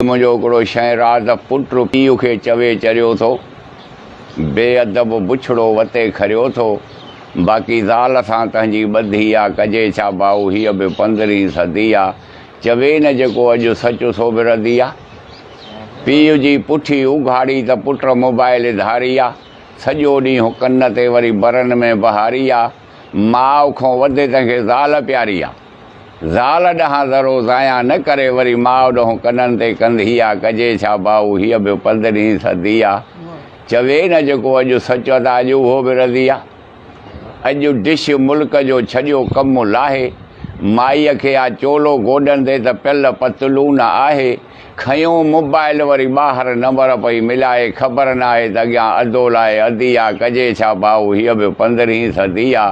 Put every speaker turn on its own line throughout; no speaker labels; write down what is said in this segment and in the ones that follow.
منهنجو هڪڙو شين راز پٽ پيء کي چوي چريو ٿو، بي ادب بڇڙو وتي کريو ٿو، باقي زال سان تنهنجي ٻڌي آ، ڪجي ڇا ڀائو هيء به پندرهين صدي آ، چوي نه جيڪو اڄ سچ سو به ردي آ. پيء جي پٺي اگهاڙي ته پٽ موبائيل ڌاري آ، سڄو ڏينهن ڪن تي وري برن ۾ بهاري آ. ماء کان وڌ تنهن کي زال پياري آ. زال ڏانهن ذرو ضايع نه ڪري وري ماء ڏانهن ڪنن تي ڪنڌي آ. ڪجي ڇا ڀائو هيء به پندرهين صدي آ. چوي نه جيڪو اڄ سچ ته اڄ اهو به رضي آ. اڄ ڊش ملڪ جو ڇڏيو ڪم لاهي. مائيء کي آ چولو گوڏن تي ته پيل پتلون آهي. کنيو موبائل وري ٻاهر نمبر پئي ملائي خبر ناهي ته اڳيان ادو لاء ادي آ ڪجي ڇا ڀائو هيء به پندرهين صدي آ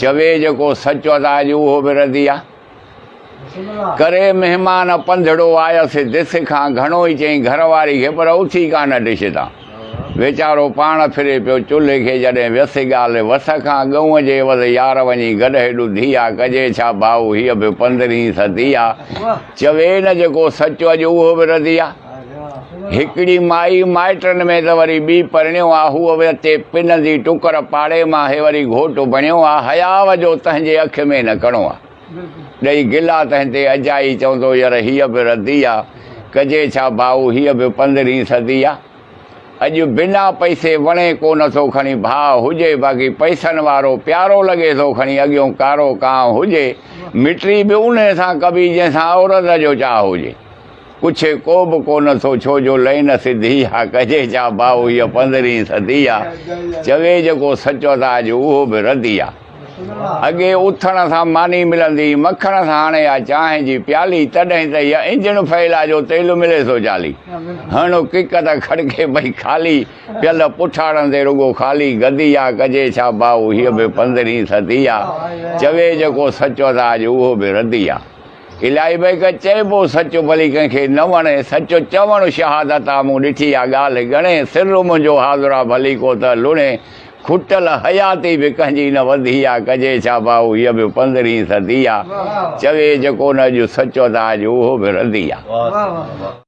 چوي جيڪو سچ ادا اڄ اهو به ردي آ ڪري مهمان پنڌڙو آيس ڊش کان گهڻو ئي چئي گهر واري کي پر اٿي ڪانه ڊش تان. ويچارو پاڻ ڦري پيو چلهي کي جڏهن ويسي ڳالهه وس کان ڳئون جي عوض يار وڃي گڏ هيڏو ڌيئا ڪجي ڇا ڀائو هيء به پندرهين صدي آ چوي نه جيڪو سچ اڄ اهو به ردي آ هڪڙي مائي مائٽن ۾ ته وري ٻي پرڻيو آ هوء به اتي پنندي ٽڪر پاڙي مان هي وري گهوٽ بڻيو آ حياء جو تنهنجي اک ۾ نه ڪڻو آ. ڏئي گلا تنهن تي اجائي چوندو ير هيء به ردي آ ڪجي ڇا ڀائو هيء به پندرهين صدي آ اڄ بنا پئسي وڻي ڪو نه ٿو کڻي ڀاء هجي باقي پئسن وارو پيارو لڳي ٿو کڻي اڳيون ڪارو ڪانء هجي مٽري به انهي سان ڪبي جنهن سان عورت جو چاهه هجي پڇي ڪو به ڪو نه ٿو ڇو جو لئين سڌي آ ڪجي ڇا ڀائو هيء پندرهين صدي آ چوي جيڪو سچ ادا اڄ اهو به ردي آ. اڳي اٿڻ سان ماني ملندي مکڻ سان هڻي آ چانهه جي پيالي تڏهن ته هيء انجڻ فعل آ جو تيل ملي سو جالي هڻ ڪڪ ته کڙڪي پئي خالي پيل پٺاڙن تي رڳو خالي گدي آ ڪجي ڇا ڀائو هيء به پندرهين صدي آ چوي جيڪو سچ ته اڄ اهو به ردي آ الائي بيڪ چئبو سچ ڀلي ڪنهن کي نه وڻي سچ چوڻ شهادت آ مون ڏٺي آ ڳالهه ڳڻي سر منهنجو حاضر آ ڀلي ڪو ته لڻي کٽل حياتي به ڪنهنجي نه وڌي آ، ڪجي ڇا ڀائو هيء به پندرهين صدي آ، چوي جيڪو نه اڄ سچو ته آج اهو به ردي آ.